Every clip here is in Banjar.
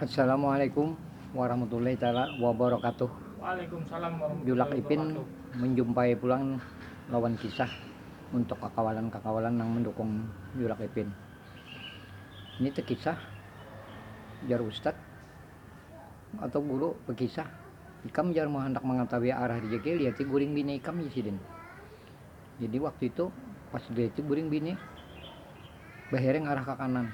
Assalamualaikum warahmatullahi taala wabarakatuh. Waalaikumsalam warahmatullahi Julak Ipin menjumpai pulang lawan kisah untuk kakawalan-kakawalan nang mendukung Julak Ipin. Ini tu kisah jar ustad atau guru bekisah ikam jar mau handak mengetahui arah rejeki liati guring bini ikam jar sidin. Jadi waktu itu pas diliati guring bini behereng arah ke kanan.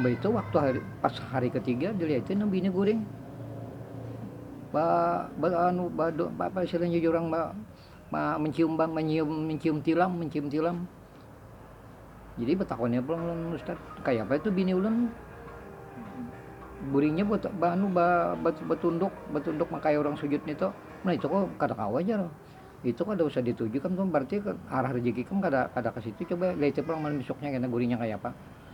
Baitu waktu hari pas hari ketiga diliati nang bini guring ba ba anu ba apa istilahnya jar urang ba mancium ba mancium tilam mancium tilam. Jadi batakunya pulang lawan ustad, kayapa itu bini ulun guringnya ba ba anu ba batunduk batunduk nang kaya urang sujud nitu. Nah itu kok kada kawa jar, itu kada usah dituju kam tu berarti arah rejeki kam kada kada kasitu coba liati pulang malam isuknya kena guringnya kayapa.